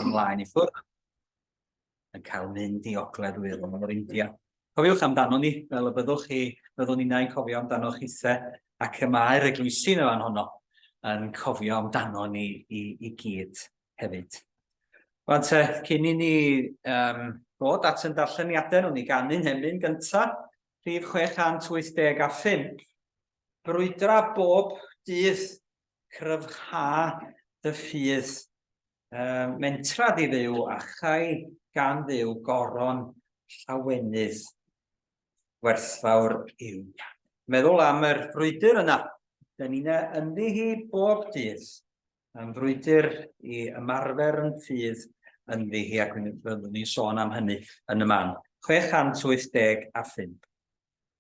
ymlaen i ffwrdd yn cael mynd i ogledd wyddon o'r India. Cofiwch amdano ni, fel y byddwch chi, byddwn ni'n ein cofio amdano chi the, ac y mae'r eglwysi yn y fan honno yn cofio amdano ni i, i gyd hefyd. Rwan te, cyn i ni um, bod at yn darlleniadau, nhw'n ni ganu'n hemyn gyntaf, rhif 680 a ffyn. Brwydra bob dydd cryfhau dy ffydd, uh, mentra di ddew, a chai gan ddew goron llawenydd werthfawr yw. Meddwl am yr frwydr yna. Da ni'n ynddi hi bob dydd. Yn frwydr i ymarfer yn ffydd ynddi hi, ac byddwn ni'n sôn am hynny yn y man. 685.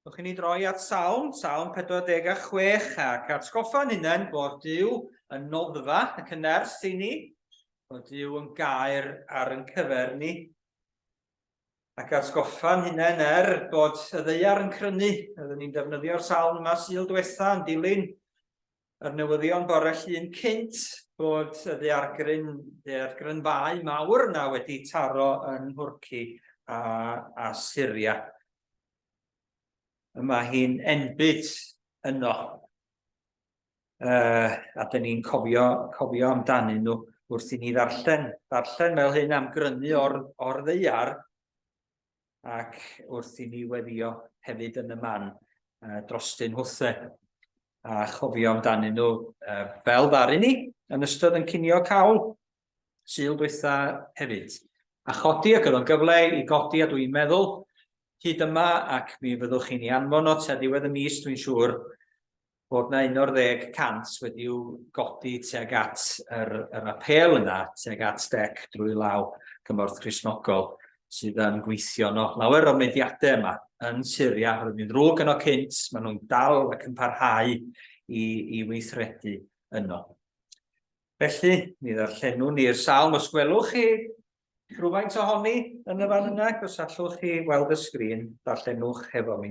Dwch i ni droi at Salm, Salm 46, ac atgoffa'n hunain bod Dyw yn noddfa ac yn ers i ni, bod Dyw yn gair ar yn cyfer ni, ac atgoffa'n hunain er bod y ddeiar yn crynu, oeddwn ni'n defnyddio'r salm yma syl diwetha yn dilyn yr newyddion bore llun cynt bod y ddeargryn, ddeargrynfau mawr yna wedi taro yn Nhwrci a, a Syria. Yma hi'n enbyd yno. Uh, a dyn ni'n cofio, cofio amdanyn nhw wrth i ni ddarllen, ddarllen fel hyn am grynu o'r, or ddeiar, ac wrth i ni weddio hefyd yn y man uh, drostyn hwthe a chofio amdanyn nhw uh, fel ddaru ni yn ystod yn cynio cawl syl dwytha hefyd. A chodi ac oedd o'n gyfle i godi a dwi'n meddwl hyd yma ac mi fyddwch chi'n ei anfon o te ddiwedd y mis dwi'n siŵr bod na 11 y cant wedi'w godi tuag at yr, yr apel yna, tuag at dec drwy law cymorth Christnogol sydd yn gweithio no lawer o'r mediadau yma yn Syria, roedd ni'n ddrwg yno cynt, maen nhw'n dal ac yn parhau i, i weithredu yno. Felly, mi ddarllenwn ni'r salm os gwelwch chi rhywfaint ohoni yn y fan yna, os allwch chi weld y sgrin, darllenwch hefo mi.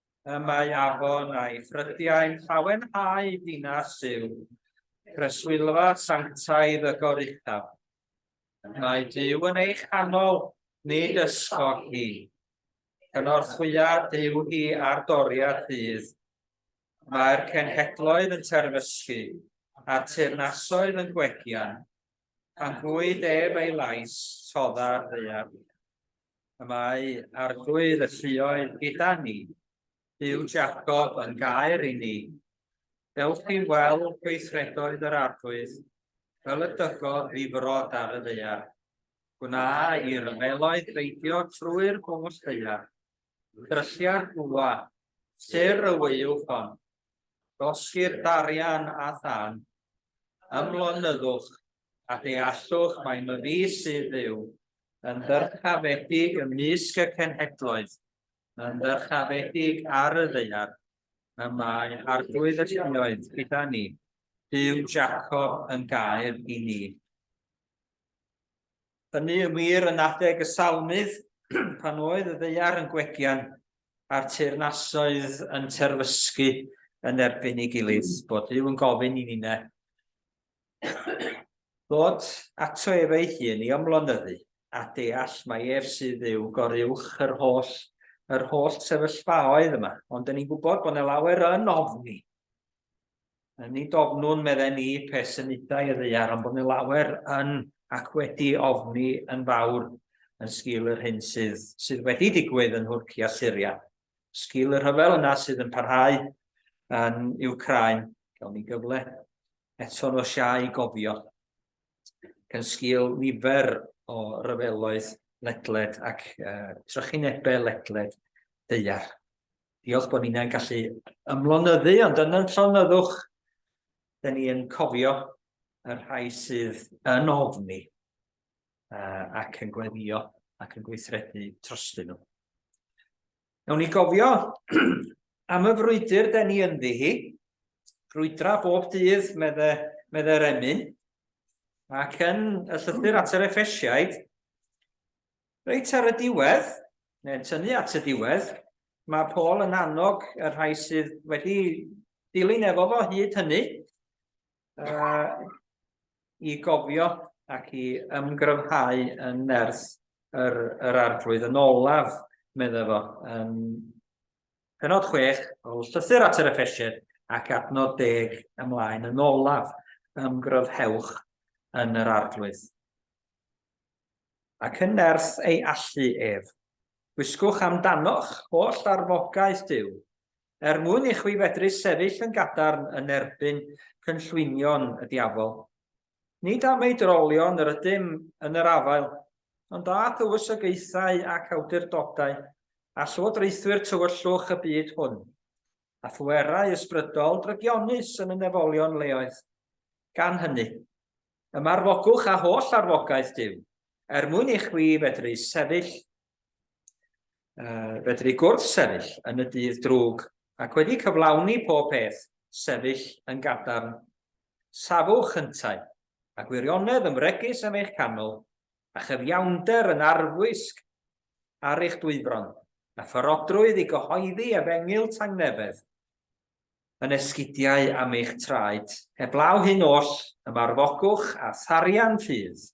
y mae afon a'i ffrydiau'n llawenhau dinas yw preswylfa sanctaidd y goruchaf. Mae Dyw yn ei chanol, nid ysgog hi. Cynorthwya Dyw hi ar doriad ddydd. Mae'r cenhedloedd yn terfysgu, a teyrnasoedd yn gwegian, A chwyd ef ei lais, todda'r ddaear. Y mae arglwydd y lluoedd gyda ni, byw Jacob yn gair i ni. Dewch chi weld gweithredoedd yr arglwydd, fel y dygodd ddifrod ar y ddaear. Gwna i ryfeloedd beidio trwy'r bwll ddaear. Dryllia'r bwa, syr y wyw hon, Dysgir darian a thân. Ymlonyddwch a deallwch mai myfi sydd fyw yn ddyrchafedig ymysg y cenhedloedd, yn ddyrchafedig ar y ddaear, y mae Arglwydd y Lluoedd gyda ni, Duw Jacob yn gaer i ni. Hynny yn wir yn adeg y Salmydd pan oedd y ddeiar yn gwegian a'r teyrnasoedd yn terfysgu yn erbyn ei gilydd, bod Dyw yn gofyn i Nina ddod ato ef ei hun i ymlonyddu a deall mai ef sydd yw goruwch yr holl yr holl sefyllfaoedd yma, ond dyn ni'n gwybod bod yna lawer yn ofni Nid ofnwn, medden ni, pe symudai y ddaear, ond bod ni lawer yn ac wedi ofni yn fawr yn sgil yr hyn sydd, sydd wedi digwydd yn Nhwrci a Syria. Sgil y rhyfel yna sydd yn parhau yn Ukraine, gawn ni gyfle eto'n o siau gofio gan sgil nifer o ryfeloedd ledled ac uh, trychinebau ledled deiar. Diolch bod ni'n gallu ymlonyddu, ond yn yn llonyddwch, da ni yn cofio y rhai sydd yn ofni uh, ac yn gweddio ac yn gweithredu trostyn nhw. Nawn ni gofio am y frwydr da ni ynddi hi, brwydra bob dydd, medde, medde'r emyn, ac yn y llythyr at yr effesiaid, Reit ar y diwedd, neu'n tynnu at y diwedd, mae Paul yn annog y rhai sydd wedi dilyn efo fo hyd hynny uh, i gofio ac i ymgryfhau yn nerth yr, yr arglwydd yn olaf, meddwl fo. Um, penod 6 o llythyr at yr effesied ac adnod deg ymlaen yn olaf, ymgryfhewch yn yr arglwydd. ac yn nerth ei allu ef. Gwisgwch am dano'ch holl arfogaeth Duw, er mwyn i chwi fedru sefyll yn gadarn yn erbyn cynllwynion y diafol. Nid am ei drolion yr ydym yn yr afael, ond â thywysogaethau ac awdurdodau, a llywodraethwyr tywyllwch y byd hwn, a phwerau ysbrydol drygionus yn y nefolion leoedd. Gan hynny, Ymarfogwch â holl arfogaeth Duw, er mwyn i chwi fedru sefyll, uh, fedru gwrth sefyll yn y dydd drwg, ac wedi cyflawni pob peth, sefyll yn gadarn. Safwch yntau, a gwirionedd yn fregus am eich canol, a chyfiawnder yn arfwisg ar eich dwyfron, a pharodrwydd i gyhoeddi efengyl tangnefedd, yn esgidiau am eich traed. Heblaw hyn oll, ymarfogwch â tharian rhydd.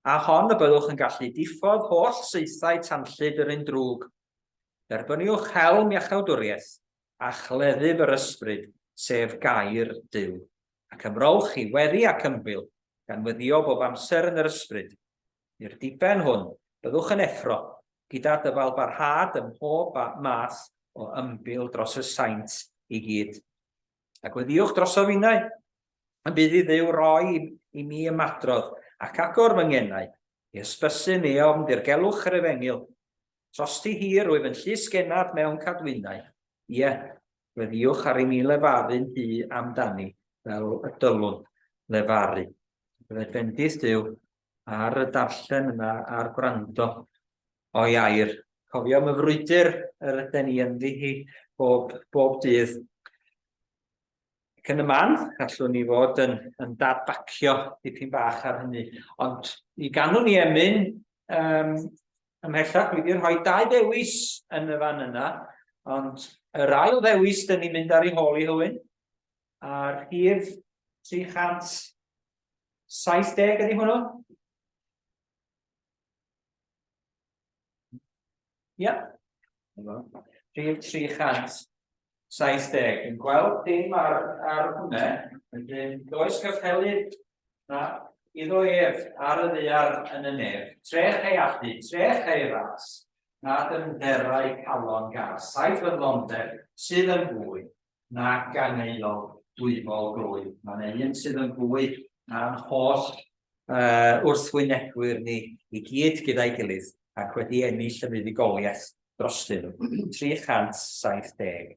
Â hon y byddwch yn gallu diffodd holl saethau tanllyd yr un drwg. Derbyniwch helm iachawdwriaeth a chleddyf yr ysbryd, sef gair Duw, ac ymrowch i weddi ac ymbil, gan weddio bob amser yn yr ysbryd. I'r diben hwn, byddwch yn effro gyda dyfal barhad ym mhob math o ymbil dros y saint i gyd. A gweddiwch droso finnau, y bydd i Dduw roi i mi ymadrodd ac agor fy ngenau, i ysbysu mi ofn dirgelwch yr efengyl. Trosti hir wyf yn llys genad mewn cadwynau, ie, gweddiwch ar i mi lefaru'n hu amdani fel y dylwn lefaru. Bydded fendith Duw ar y darllen yna, a'r gwrando o iair. Cofio am y frwydr yr yden ni ynddi hi bob, bob dydd. Ac yn y man, gallwn ni fod yn, yn dadbacio dipyn bach ar hynny. Ond i ganwn ni emyn um, ymhellach, dwi wedi rhoi dau ddewis yn y fan yna, ond yr ail ddewis dyn ni'n mynd ar ei hôl i hywyn, a'r hir 300 70 ydy hwnnw? Ia. Rhif 370. Yn gweld dim ar, ar hwnna, wedyn does gyffelu na iddo ef ar y ddear yn y nef. Trech ei allu, trech ei ras, nad yn dderau calon gas, saith fydlondeb sydd yn fwy, nag gan aelod dwyfol gloi. Mae yna un sydd yn fwy na'n holl uh, wrthwynebwyr ni i gyd gyda'i gilydd ac wedi ennill y fuddugoliaeth drostyn nhw. 370.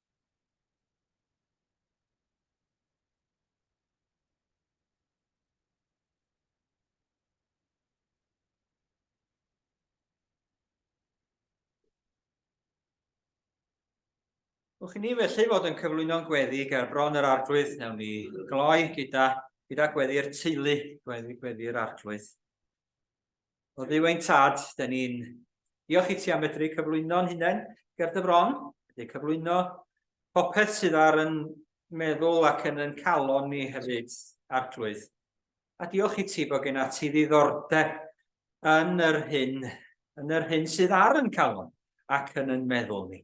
Wch i ni felly fod yn cyflwyno'n gweddi ger bron yr arglwydd, newn ni gloi gyda, gyda gweddi'r teulu, gweddi'r gweddi arglwydd. O dduw ein tad, da ni'n diolch i ti am fedru cyflwyno'n hunain ger dy fron, wedi cyflwyno popeth sydd ar yn meddwl ac yn yn calon ni hefyd, Arglwydd. A diolch i ti bod gen ati ddiddordeb yn yr hyn, yn yr hyn sydd ar yn calon ac yn yn meddwl ni.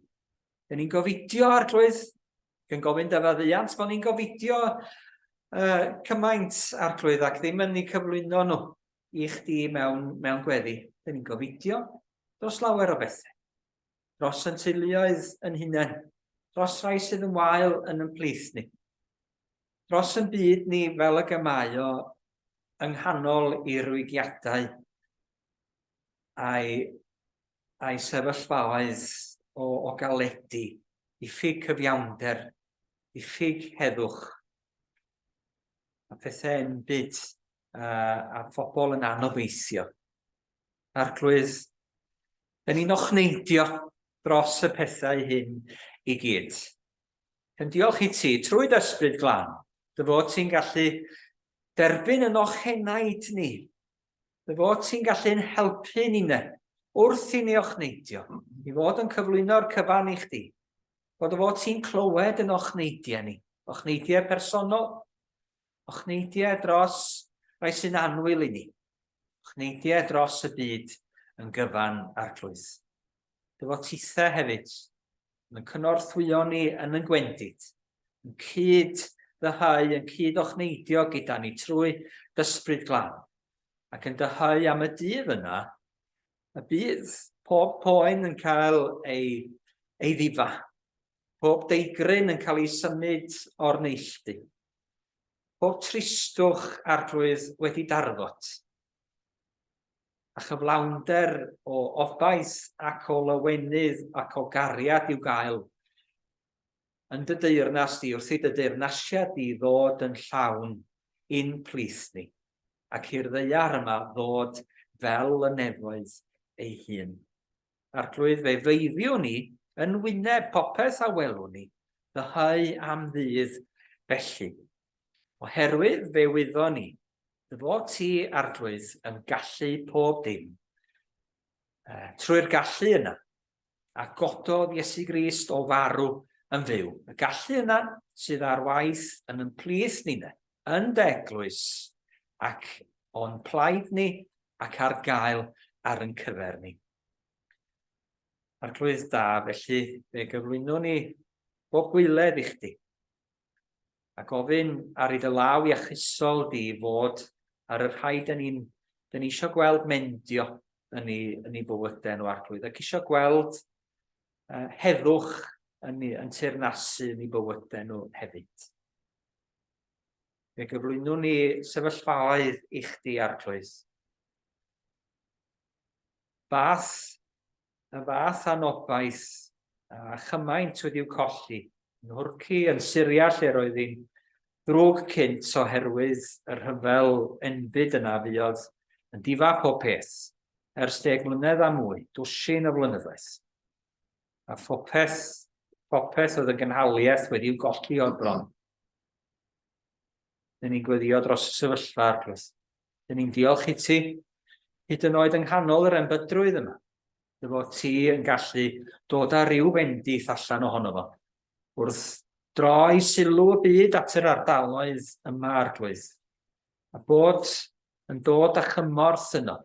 Dyn ni'n gofidio, Arglwydd, yn gofyn dy faddiant, bod ni'n gofidio uh, cymaint, Arglwydd, ac ddim yn ei cyflwyno nhw. i chdi mewn, mewn gweddi. Dyn ni'n gofidio dros lawer o bethau. Dros yn teuluoedd yn hunain. Dros rai sydd yn wael yn yn plith ni. Dros yn byd ni fel y gemau o yng nghanol i rwygiadau a'i, a'i sefyllfaoedd o, o galedi, i ffug cyfiawnder, i ffug heddwch, a pethau'n byd uh, a phobl yn anobeithio. Arglwydd, yn un o'ch neidio dros y pethau hyn i gyd. Yn diolch i ti, trwy dysbryd glan, dy fod ti'n gallu derbyn yn o'ch henaid ni. Dy fod ti'n gallu'n helpu ni ne, wrth i ni o'ch neidio, i fod yn cyflwyno'r cyfan i chdi. Bod y fod ti'n clywed yn o'ch neidiau ni, o'ch neidiau personol, O chneidiau dros rai sy'n annwyl i ni. O chneidiau dros y byd yn gyfan arglwydd. Dy fod titha hefyd yn cynorthwyo ni yn yn gwendid, yn cyd ddyhau, yn cyd o chneidio gyda ni trwy dysbryd glan, ac yn dyhau am y dydd yna, y bydd pob poen yn cael ei, ei ddifa, pob deigryn yn cael ei symud o'r neilltu. Pob tristwch Arglwydd wedi darfod, a chyflawnder o obaith ac o lawenydd ac o gariad i'w gael yn dy deyrnas di, wrth i dy deyrnasiad di ddod yn llawn i'n plith ni, ac i'r ddaear yma ddod fel y nefoedd ei hun. Arglwydd, fe feiddiwn ni yn wyneb popeth a welwn ni, ddyhau am ddydd felly. Oherwydd fe wyddon ni, dy fod ti, Arglwydd, yn gallu pob dim, uh, trwy'r gallu yna, a gododd Iesu Grist o farw yn fyw. Y gallu yna sydd ar waith yn ymplith ni ne, yn deglwys, ac o'n plaid ni ac ar gael ar yn cyfer ni. Arglwydd da, felly fe gyflwyno ni bob gwyledd i chdi, a gofyn ar i dy law iachusol di fod ar y rhai dyn ni'n ni eisiau gweld mendio yn ei, yn ei bywydau nhw arglwydd, ac eisiau gweld uh, heddwch yn, yn teirnasu yn ei bywydau nhw hefyd. Fe gyflwynwn ni sefyllfaoedd i chdi, Arglwydd. Fath, y fath anobaith a chymaint wedi'w colli yn Hwrci, yn Syria lle roedd hi'n ddrwg cynt oherwydd y rhyfel enbyd yna fuodd yn difa pob peth ers deg mlynedd a mwy, dwsin o flynyddoedd. A phopeth, popeth oedd yn gynhaliaeth wedi'w golli o'r bron. Dyn ni'n gweddio dros y sefyllfa, Arglwydd. Dyn ni'n diolch i ti, hyd yn oed yng nghanol yr embydrwydd yma, dy fod ti yn gallu dod â rhyw fendith allan ohono fo, wrth droi sylw y byd at yr ardaloedd yma, Arglwydd, a bod yn dod â chymorth yno,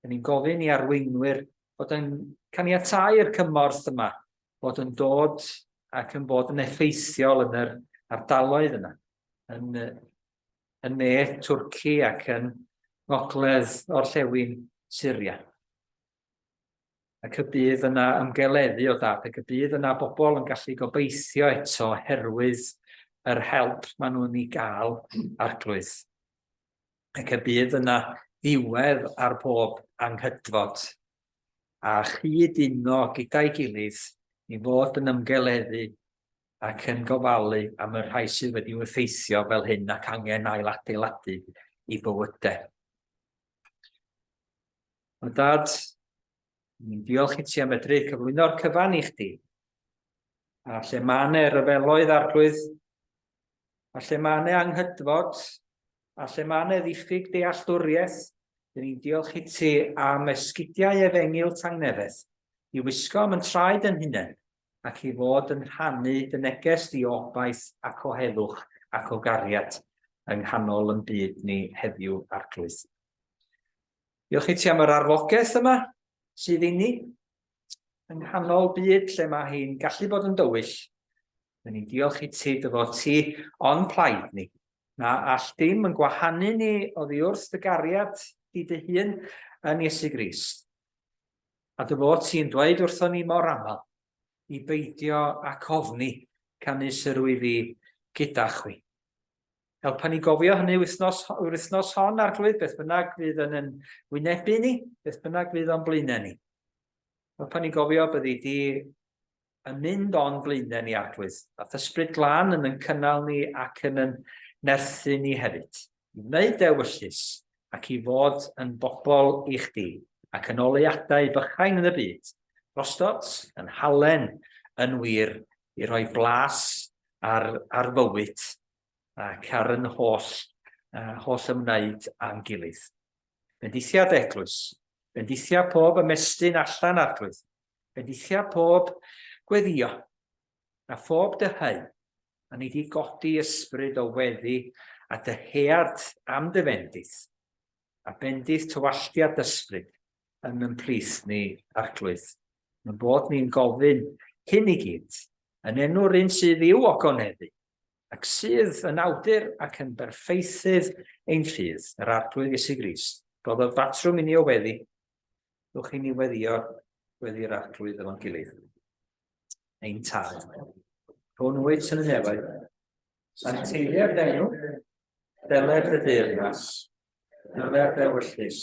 Rydyn ni'n gofyn i arweinwyr fod yn caniatáu'r cymorth yma fod yn dod ac yn bod yn effeithiol yn yr ardaloedd yna, yn, yn ne Twrci ac yn ngogledd orllewin Syria. Ac y bydd yna ymgeleddu o dad, ac y bydd yna bobl yn gallu gobeithio eto herwydd yr help maen nhw'n ei gael arglwydd. ac y bydd yna ddiwedd ar bob anghydfod, a chyd uno gyda'i gilydd i fod yn ymgeleddu ac yn gofalu am y rhai sydd wedi'u effeithio fel hyn ac angen ailadeiladu i bywydau. O Dad, Ni'n diolch i ti am medru cyflwyno'r cyfan i chdi. A lle mae yna ryfeloedd arglwydd, a lle mae yna anghydfod, a lle mae yna ddiffyg dealltwriaeth, dyn ni'n diolch i ti am esgidiau efengil tangnefedd, i wisgo am yn traed yn hunain, ac i fod yn rhannu dy neges di o obaith ac o heddwch ac o gariad yng nghanol yn byd ni heddiw arglwydd. Diolch i ti am yr arfogaeth yma sydd inni. Yng nghanol byd lle mae hi'n gallu bod yn dywyll, Dyn ni'n diolch i ti dy fod ti on plaid ni. Na all dim yn gwahanu ni oddi wrth dy gariad di dy hun yn Iesu Grist. A dy fod ti'n dweud wrthon ni mor aml i beidio ac ofni canu syrwyddi gyda chwi. helpa ni gofio hynny wythnos, yr wythnos hon, Arglwydd, beth bynnag fydd yn yn wynebu ni, beth bynnag fydd o'n blaenau ni. Helpa ni gofio byddi di yn mynd o'n blaenau ni, Arglwydd, a thysbryd glan yn yn cynnal ni ac yn yn nerthu ni hefyd, i wneud dewyllus ac i fod yn bobl i chdi, ac yn oleadau bychain yn y byd, drostot, yn halen, yn wir, i roi blas ar, ar fywyd ac ar yn holl, uh, holl ymwneud â'n gilydd. Bendithiad eglwys, bendithiad pob ymestyn allan arglwydd, bendithiad pob gweddio, a phob dyhau, a ni di godi ysbryd o weddi a dyhead am dy fendith, a bendith tywalltiad ysbryd yn yn plith ni arglwydd. Mae'n bod ni'n gofyn hyn i gyd, yn enw'r un sydd i'w ogoneddu, ac sydd yn awdur ac yn berffeithydd ein ffydd, yr Arglwydd Iesu Grist. Rhoddodd batrwm i ni o weddi, rhywch i ni weddio wedi'r Arglwydd efo'n gilydd. Ein tad, rhwng wyt yn y nefoedd, sancteiddiau'r denw, deled y deyrnas, deled ewyllus,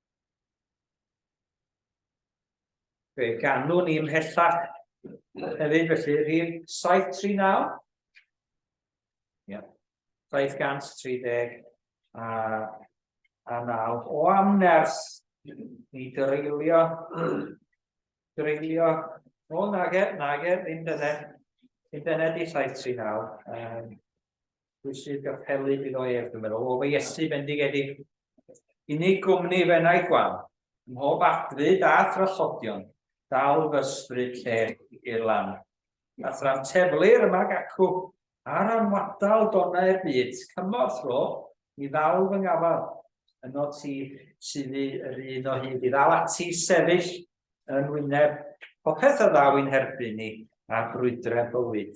Fe ganwn ni ymhellach hefyd, felly, rhif 739. Ia. 730 a, a 9. O amners, ni dreulio, dreulio, o nage, nage, ddim dyne, ddim dyne di 739. Um, Pwy sydd â'r pelyd iddo ef, dwi'n meddwl, o fy Iesu bendigedig. Unig gwmni fennaeth wan, mhob adfyd a thrallodion, dal fy ysbryd lle i'r lan. A thra'n teflir yma gacw, ar anwadal donau'r byd, cymorth ro, i ddal fy ngafal, yno ti sydd yr un o hyd i ddal ati sefyll yn wyneb popeth a ddaw i'n herbyn ni a brwydrau bywyd.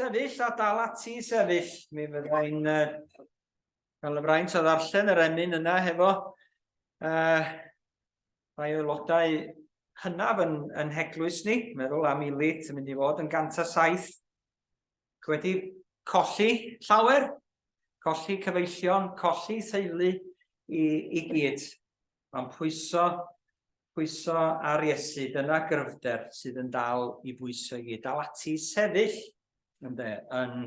Sefyll a dal ati i sefyll, mi fydda i'n Gan y fraint o ddarllen yr emyn yna hefo uh, rhai aelodau hynaf yn, yn heglwys ni, meddwl am Ilit yn mynd i fod yn 107 wedi colli llawer, colli cyfeillion, colli theulu i, i gyd. Mae'n pwyso, pwyso ar Iesu, dyna gryfder sydd yn dal i bwyso i gyd, dal ati i sefyll ynde, yn,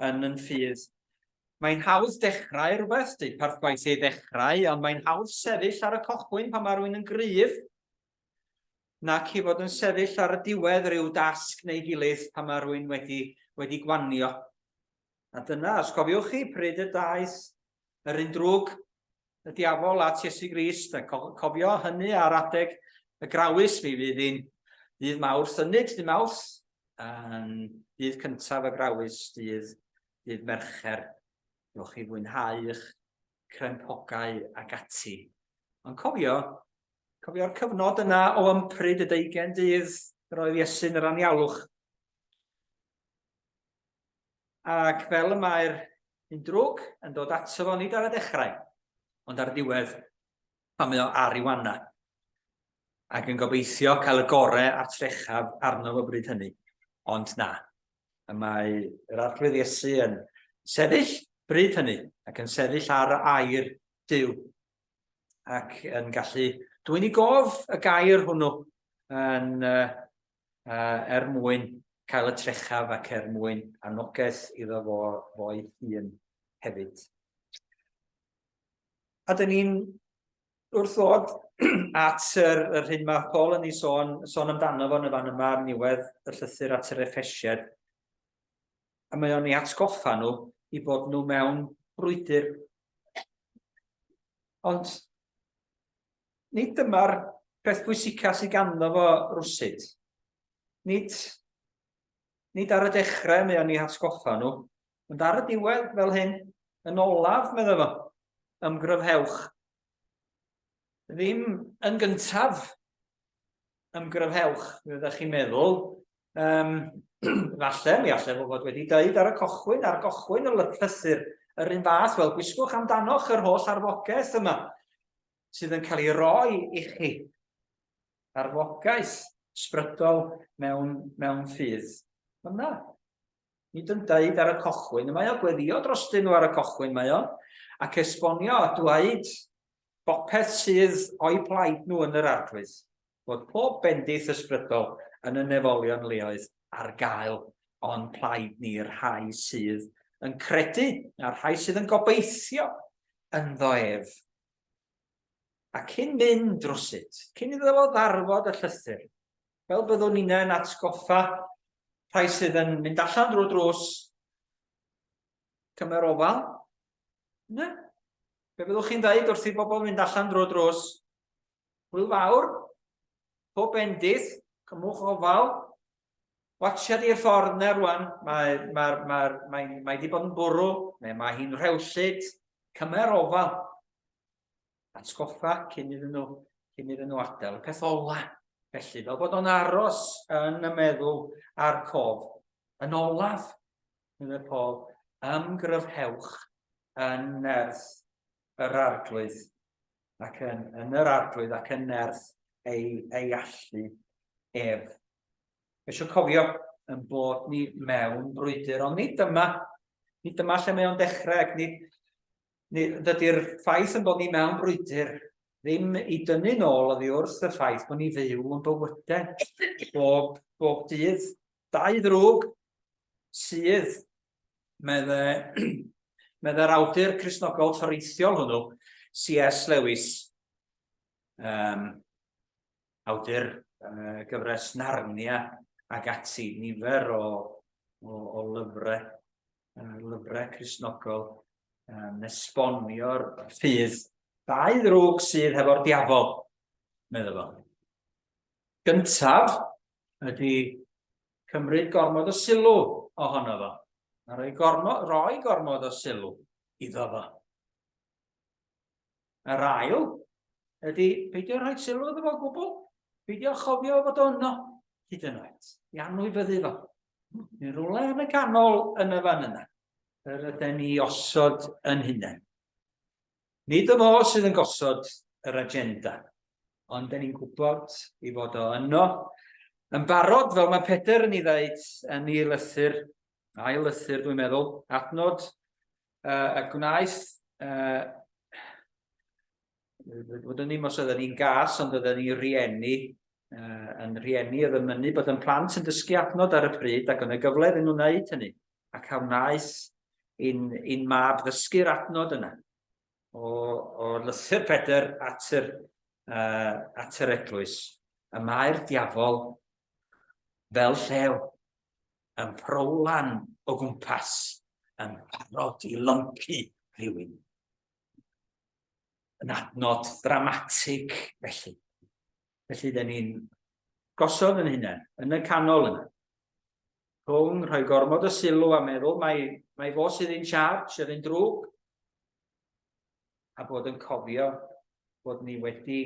yn yn ffydd. Mae'n hawdd dechrau rhywbeth, dweud parth gwaith ei ddechrau, ond mae'n hawdd sefyll ar y cochwyn pan mae rhywun yn gryf, nac i fod yn sefyll ar y diwedd rhyw dasg neu gilydd pan mae rhywun wedi, wedi gwanio. A dyna, os cofiwch chi, pryd y daeth yr un drwg y diafol at Iesu Grist, a cofio hynny ar adeg y grawys, mi fydd hi'n dydd mawrth, ynyd dydd mawrth, yn dydd cyntaf y grawys, dydd, dydd mercher, rhywch chi fwynhau eich crempogau ac ati. Ond cofio, cofio'r cyfnod yna o ympryd y deugen dydd yr oedd Iesu'n yr anialwch. Ac fel y mae'r un drwg yn dod ato fo nid ar y dechrau, ond ar ddiwedd pan mae o ar ei wanna, ac yn gobeithio cael y gore a'r trechaf arno fo bryd hynny. Ond na. Y mae yr Arglwydd Iesu yn sefyll bryd hynny, ac yn sefyll ar y air Duw, ac yn gallu dwyni gof y gair hwnnw yn uh, uh, er mwyn cael y trechaf ac er mwyn anogaeth iddo fo fo'i hun hefyd. A dyn ni'n wrth ddod at yr, yr hyn mae Paul yn ei sôn, sôn amdano fo yn y fan yma ar niwedd y llythyr at yr effesied, a mae o'n ei atgoffa nhw i bod nhw mewn brwydr. Ond nid dyma'r peth pwysica sydd ganddo fo rwsyd. Nid, nid ar y dechrau mae o'n ei hatgoffa nhw, ond ar y diwedd fel hyn, yn olaf, medda fo, ymgryfhewch. Ddim yn gyntaf, ymgryfhewch, fe ydych chi'n meddwl, um, falle, mi allai fod wedi dweud ar y cochwyn, ar gochwyn y llythyr, yr un fath, wel, gwisgwch amdanoch yr holl arfogaeth yma, sydd yn cael ei roi i chi. Arfogaeth sbrydol mewn, mewn ffydd. Mae'n dda. Nid yn dweud ar y cochwyn, mae o gweddio dros dyn nhw ar y cochwyn, mae o, ac esbonio a dweud bopeth sydd o'i plaid nhw yn yr arglwydd, bod pob bendith ysbrydol yn y nefolion leoedd ar gael o'n plaid ni'r rhai sydd yn credu a'r rhai sydd yn gobeithio ynddo ef. A cyn mynd drosyt, cyn iddo fo ddarfod y llythyr, fel byddwn ni'n yn atgoffa rhai sydd yn mynd allan drwy drws cymer ofal, ne? Be fyddwch chi'n dweud wrth i bobl fynd allan drwy drws? Hwyl fawr, pob bendith, cymwch ofal, Watsia di'r ffordd na rwan, mae, ma, ma, mae, mae di bod yn bwrw, neu mae hi'n rhewllyd, cymer ofal. Atgoffa cyn iddyn nhw, cyn iddyn nhw adael. Y peth ola, felly, fel bod o'n aros yn y meddwl a'r cof. Yn olaf, meddwl Paul, ymgryfhewch yn nerth yr arglwydd ac yn, yn yr arglwydd ac yn nerth ei, ei allu ef. Eisiau cofio yn bod ni mewn brwydr, ond nid dyma, nid dyma lle mae o'n dechrau, ac nid, nid dydy'r ffaith yn bod ni mewn brwydr ddim i dynnu nôl oddi wrth y ffaith bod ni fyw yn bywydau bob, bob dydd. Dau ddrwg sydd meddai'r awdur Cristnogol toreithiol hwnnw, C.S. Lewis, um, awdur uh, gyfres Narnia ac ati, nifer o, o, o lyfrau, uh, lyfrau Cristnogol, um, nesbonio'r ffydd dau ddrwg sydd hefo'r diafol, meddwl fo. Gyntaf, ydy cymryd gormod o sylw ohono fo, a rhoi gormod, rhoi gormod o sylw iddo fo. Yr ail ydy peidio rhoi sylw iddo fo gwbl, peidio chofio fod o yno hyd yn oed, i anwybyddu fo. Yn rhywle yn y canol yn y fan yna, yr yden ni osod yn hunain. Nid o fo sydd yn gosod yr agenda, ond da ni'n gwybod i fod o yno yn barod, fel mae Pedr yn ei ddeud yn ei lythyr, ail lythyr dwi'n meddwl, adnod uh, y gwnaeth uh, fod yn ddim os oedden ni'n gas, ond oedden ni'n rieni, uh, yn rieni oedd yn mynnu bod yn plant yn dysgu adnod ar y pryd ac yn y gyfle iddyn nhw wneud hynny. ac a wnaeth i'n, in mab ddysgu'r adnod yna o, o lythyr Pedr at yr, uh, at yr eglwys. Y mae'r diafol fel llew yn prowlan o gwmpas yn parod i lympu rhywun. Yn adnod ddramatig felly. Felly, dyn ni'n gosod yn hunain, yn y canol yna. Rhwng rhoi gormod o sylw a meddwl mae, mae fo sydd yn charge yr un drwg, a bod yn cofio bod ni wedi,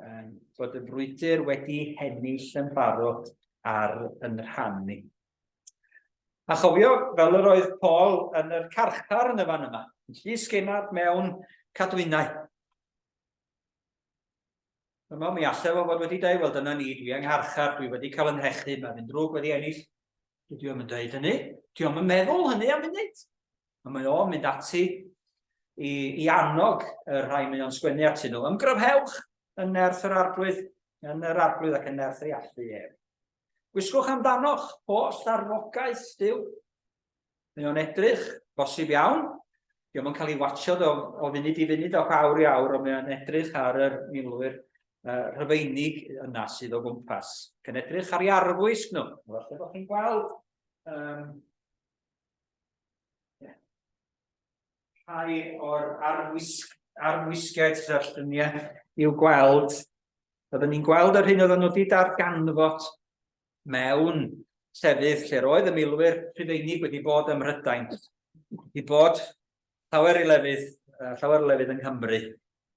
um, bod y brwydr wedi hennill yn barod ar yn rhan ni. A chofio, fel yr oedd Paul yn yr carchar yn y fan yma, yn llys genad mewn cadwynau. Yma mi allai fo fod wedi dweud, wel dyna ni, dwi yng ngharchar, dwi wedi cael yn hechu, mae fi'n drwg wedi ennill. Dwi am yn dweud hynny, dwi am yn meddwl hynny am munud. A mae o'n mynd ati i, i annog y rhai mae o'n sgwennu atyn nhw. Ymgryfhewch yn nerth yr arglwydd, yn yr arglwydd ac yn nerth ei allu ef. Gwisgwch amdano'ch holl arfogaeth still. Mae o'n edrych, bosib iawn, diolch yn cael ei watcho o, o funud i funud ac awr i awr, ond mae o'n edrych ar yr milwyr uh, rhyfeinig yna sydd o gwmpas. Cyn edrych ar ei arfwisg nhw. Felly bod chi'n gweld um, rhai o'r arwisgiaid sydd ar lluniau i'w gweld. Oedden ni'n gweld yr hyn oedden nhw wedi darganfod mewn llefydd lle roedd y milwyr Rhufeinig wedi bod ym Mhrydain, wedi bod llawer i lefydd, uh, llawer o lefydd yng Nghymru,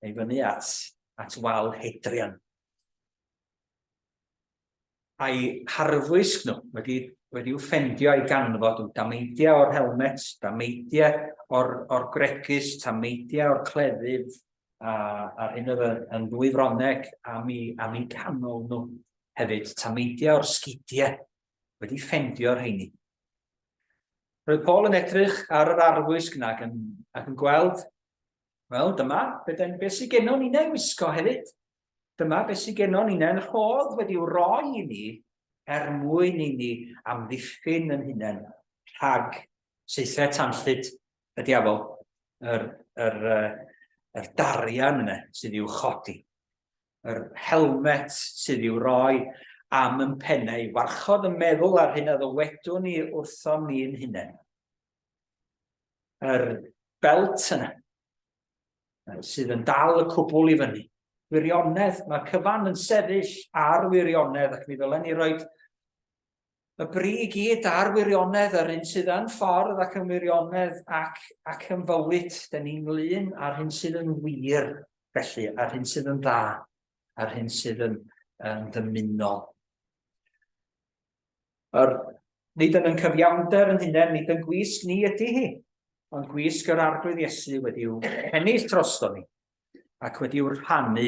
neu fyny at, at wal Hedrian. A'i harfwisg nhw, wedi, wedi'u ffendio a'i ganfod nhw, dameidiau o'r helmet, dameidiau o'r, or gregys, tameidiau o'r cleddyf, a, a'r hyn oedd yn ddwy froneg am i, am i canol nhw hefyd, tameidiau o'r sgidiau, wedi ffendio'r heini. Roedd Paul yn edrych ar yr arfwisg yna ac yn, ac yn gweld, wel, dyma, beth sydd gennon ni'n ei wisgo hefyd. Dyma beth sydd gennon ni, neu'n rhodd wedi'w roi i ni er mwyn i ni amddiffyn yn hunain rhag seithau tanllyd y diafol, yr, yr, yr, yr darian yna sydd i'w chodi, yr helmet sydd i'w roi am yn pennau, warchod y meddwl ar hyn a ddywedwn ni wrthom ni'n hunain. Yr belt yna, sydd yn dal y cwbl i fyny. Wirionedd, mae cyfan yn sefyll ar wirionedd ac mi ddylen ni roi y bri i gyd ar wirionedd yr un sydd yn ffordd ac yn wirionedd ac, ac yn fywyd. Dyn ni'n glun ar hyn sydd yn wir, felly, ar hyn sydd yn dda, ar hyn sydd yn, yn ddymunol. Yr, nid yn yn cyfiawnder yn hunain, nid yn gwisg ni ydy hi, ond gwisg yr Arglwydd Iesu wedi'w hennill drosto ni, ac wedi'w rhannu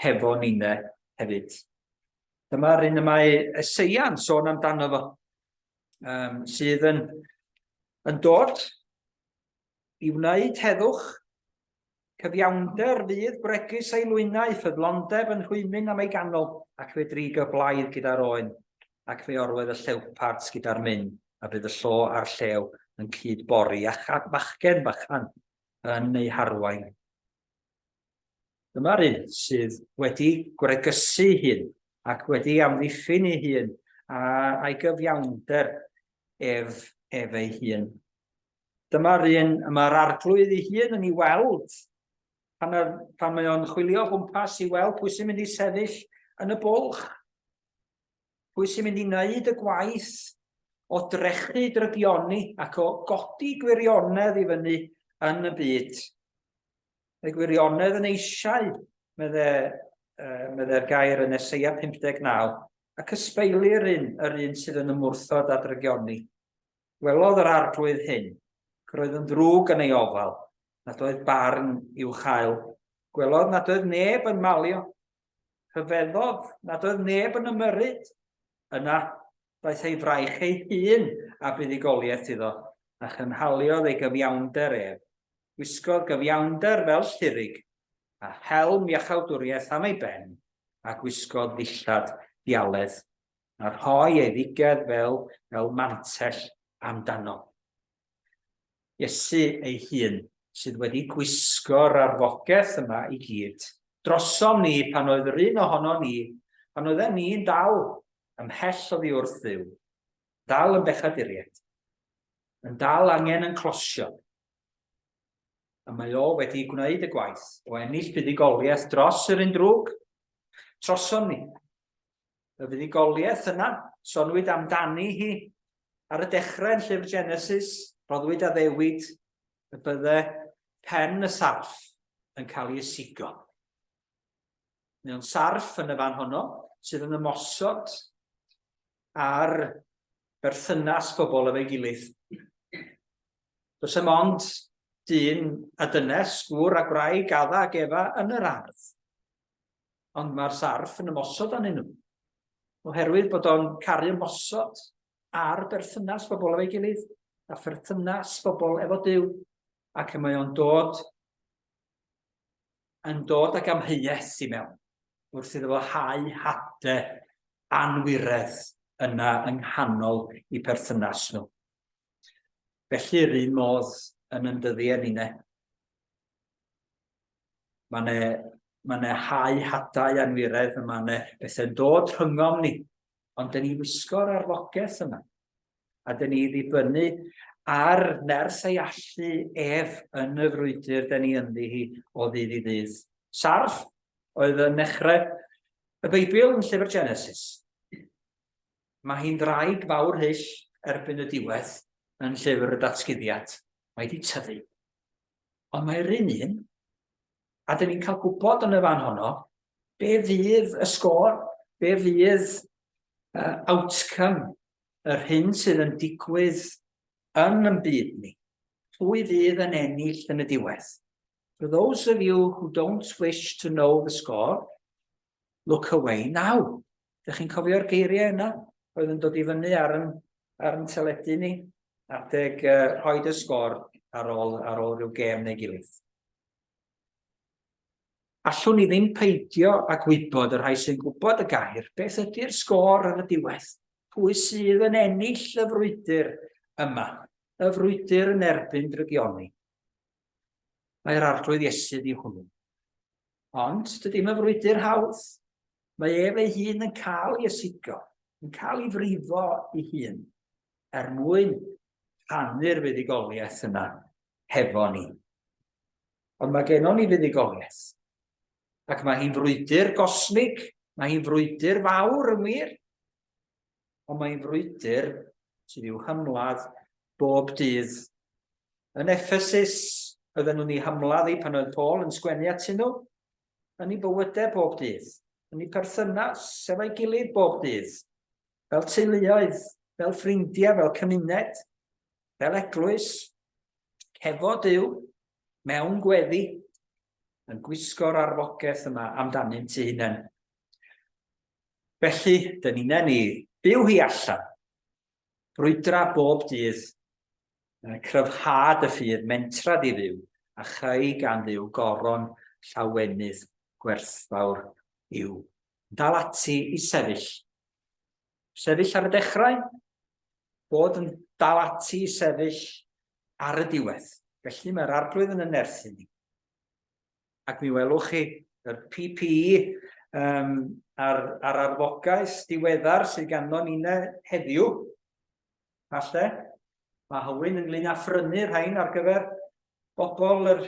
hefo nine hefyd. Dyma'r un y mae Eseia'n sôn amdano fo, um, sydd yn, yn dod i wneud heddwch Cyfiawnder fydd bregus ei lwynau, ffyddlondeb yn rhwymyn am ei ganol, ac fe drig y blaidd gyda'r oen, ac fe orwedd y llewpart gyda'r myn, a bydd y llo a'r llew yn cyd bori, a chad bachgen bychan yn ei harwain. Dyma'r un sydd wedi gwregysu hun ac wedi amddiffyn ei hun a'i gyfiawnder ef, ef ei hun. Dyma'r un y mae'r arglwydd ei hun yn ei weld pan, ar, pan mae o'n chwilio o gwmpas i weld pwy sy'n mynd i sefyll yn y bwlch, pwy sy'n mynd i wneud y gwaith o drechu drygioni ac o godi gwirionedd i fyny yn y byd. Mae gwirionedd yn eisiau, medde, uh, medde'r gair yn Eseia 59, ac ysbeilir un, yr un sydd yn ymwrthod â drygioni. Gwelodd yr Arglwydd hyn, ac roedd yn ddrwg yn ei ofal, nad oedd barn i'w chael. Gwelodd nad oedd neb yn malio. Rhyfeddodd nad oedd neb yn ymyrryd. Yna, daeth ei fraich ei hun a buddugoliaeth iddo, a chynhaliodd ei gyfiawnder ef. Gwisgodd gyfiawnder fel llirig, a helm iachawdwriaeth am ei ben, a gwisgodd ddillad dialedd a rhoi ei ddigedd fel, fel mantell amdano. Iesu ei hun sydd wedi gwisgo'r arfogaeth yma i gyd drosom ni pan oedd yr un ohono ni, pan oedden ni'n dal ymhell oddi wrth ddiw, dal yn bechaduriaid, yn dal angen yn closio, a mae o wedi gwneud y gwaith o ennill buddigoliaeth dros yr un drwg, trosom ni. y fuddugoliaeth yna, sonwyd amdani hi ar y dechrau yn llyfr Genesis, roddwyd addewid y bydde pen y sarff yn cael ei ysigo. Mewn sarff yn y fan honno sydd yn ymosod ar berthynas pobl efo'i gilydd. Does dim ond dyn a dynes, gŵr a gwraig, adda ac efa yn yr ardd. ond mae'r sarff yn ymosod arnyn nhw. Oherwydd bod o'n caru ymosod ar berthynas bobl efo'i gilydd, a pherthynas bobl efo Dyw, ac mae o'n dod yn dod ag amheuaeth i mewn, wrth iddo fo hau hade anwiredd yna yng nghanol i perthynas nhw. Felly, yr un modd yn yndyddi e, Mae yna mae yna hau hadau anwiredd, a mae yna bethau'n dod rhyngom ni. Ond dyn ni wisgo'r arfogaeth yma. A dyn ni ddibynnu ar nerth ei allu ef yn y frwydr dyn ni ynddi hi o ddydd i ddydd. Sarf oedd yn nechrau y Beibl yn llyfr Genesis. Mae hi'n ddraig fawr hyll erbyn y diwedd yn llyfr y datguddiad. Mae wedi tyfu. Ond mae'r un un, a dyn ni'n cael gwybod yn y fan honno, be fydd y sgôr, be fydd uh, outcome yr hyn sydd yn digwydd yn yn byd ni. Pwy fydd yn ennill yn y diwedd? For those of you who don't wish to know the score, look away now. Ydych chi'n cofio'r geiriau yna? Roedd yn dod i fyny ar yn, ar yn teledu ni. Adeg uh, rhoi dy sgor ar ôl, ar ôl rhyw gêm neu gilydd. Allwn ni ddim peidio a gwybod y rhai sy'n gwybod y gair, beth ydy'r sgôr ar y diwedd? Pwy sydd yn ennill y frwydr yma? Y frwydr yn erbyn drygioni. Mae'r Arglwydd Iesu yw hwnnw. Ond dydy mae frwydr hawdd. Mae ef ei hun yn cael ei ysigo, yn cael ei frifo ei hun, er mwyn rhannu'r fuddugoliaeth yna hefo ni. Ond mae gennon ni fuddugoliaeth. Ac mae hi'n frwydr gosmig, mae hi'n frwydr fawr yn wir. ond mae'n frwydr sydd i'w hymladd bob dydd. Yn Ephesus, oedden nhw'n ei hymladd ei pan oedd Paul yn sgwennu at nhw, yn ei bywydau bob dydd, yn ei perthynas efo'i gilydd bob dydd, fel teuluoedd, fel ffrindiau, fel cymuned, fel eglwys, hefo Dyw, mewn gweddi, yn gwisgo'r arfogaeth yma amdanynt eu hunain. Felly, dyn ni'n nen i. Byw hi allan. Brwydra bob dydd. Cryfhad y ffydd mentrad i fyw, a chreu gan Dduw goron llawenydd gwerthfawr i'w. Dal ati i sefyll. Sefyll ar y dechrau. Bod yn dal ati i sefyll ar y diwedd. Felly mae'r Arglwydd yn yn nerthu ni. ac mi welwch chi y PPE um, a'r, ar arfogaeth diweddar sydd ganddo ni heddiw. Falle, mae Hywyn ynglyn â phrynu rhain ar gyfer bobl yr,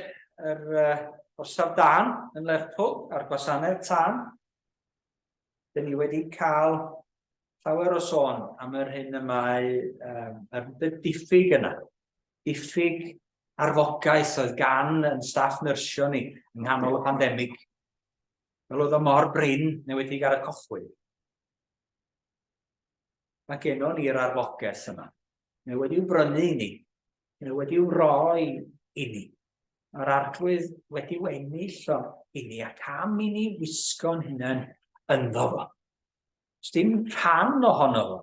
yr uh, orsaf dan yn Lerpwl a'r gwasanaeth tân. Dyn ni wedi cael llawer o sôn am yr hyn y mae um, y diffyg yna. Diffyg arfogaeth oedd gan yn staff nyrsio ni yng nghanol y pandemig, fel oedd o mor brin newedig ar y cochwyn. Mae genon ni'r arfogaeth yma. Mae wedi'w brynu i ni. Mae wedi'w roi i ni. Mae'r arglwydd wedi ennill o i ni ac am i ni wisgo'n hunain ynddo fo. Os dim rhan ohono fo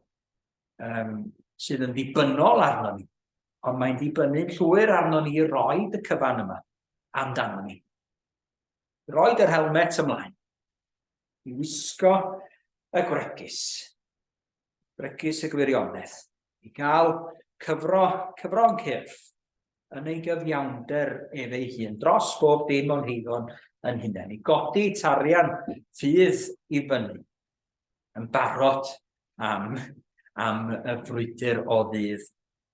um, sydd yn ddibynnol arno ni, ond mae'n dibynnu'n llwyr arno ni roi y cyfan yma amdano ni. Roi yr helmet ymlaen, i wisgo y gwregys, gwregys y gwirionedd, i gael cyfro, cyfro'n cyrff yn ei gyfiawnder ef ei hun dros bob dim o'n heiddo'n yn hunain, i godi tarian ffydd i fyny, yn barod am, am y frwydr o ddydd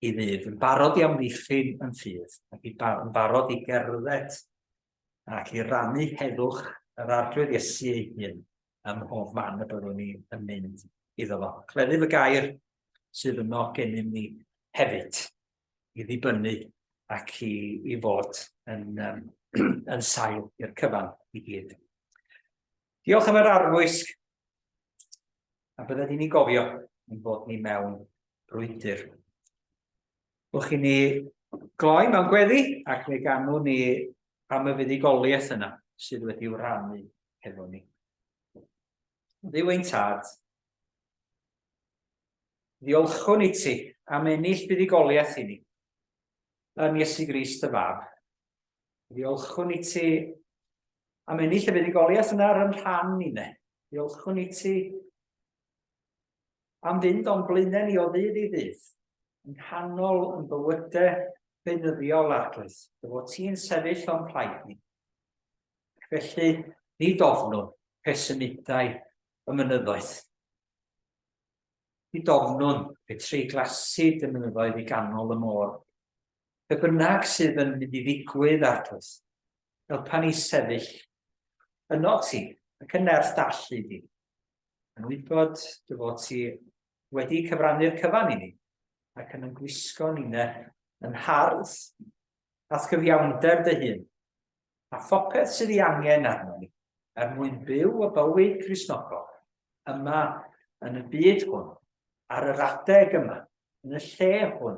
i ddydd, yn barod i amddiffyn yn ffydd, ac yn barod i gerdded ac i rannu heddwch yr Arglwydd Iesu ei hun ym mhob man y byddwn ni yn mynd iddo fo. Cleddyf y gair sydd yno gennym ni hefyd i ddibynnu ac i, i fod yn, um, yn sail i'r cyfan i gyd. Diolch am yr arfwisg a bydde ni'n gofio yn bod ni mewn brwydr. Wch i ni gloi mewn gweddi ac fe ganwn ni am y fuddugoliaeth yna sydd wedi wranu hefo ni. Dduw ein tad, ddiolchwn i ti am ennill buddugoliaeth i ni yn Iesu Grist y Fab. Ddiolchwn i ti am ennill y fuddugoliaeth yna ar yn rhan ni ne. Ddiolchwn i ti Am fynd o'n blaenau ni o ddydd i ddydd, yn nghanol yn bywyde beunyddiol arglwydd, dy fod ti'n sefyll o'n plaid ni. Ac felly, ni dofnwn pe symudau y mynyddoedd. Ni dofnwn pe treiglasu dy mynyddoedd i ganol y môr. Be bynnag sydd yn mynd i ddigwydd arglwydd, helpa ni sefyll yno ti ac yn nerth dallu di. yn wybod dy fod ti wedi cyfrannu'r cyfan i ni, ac yn ymgwisgo nine yn hardd at gyfiawnder dy hun, a phopeth sydd ei angen arno ni, er mwyn byw y bywyd Gristnogol, yma yn y byd hwn, ar yr adeg yma, yn y lle hwn,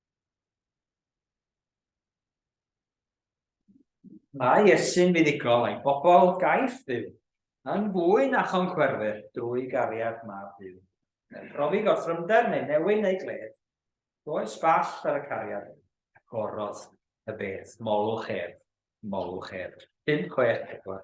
Mae Iesu'n fuddugol a'i bobl gaiff fyw yn fwy na chonchwerwyr drwy gariad mab Duw. Yn profi gorthrymder neu newyn neu gledd, does ball ar y cariad hyn. Agorodd y bedd, molwch ef, molwch ef. 564.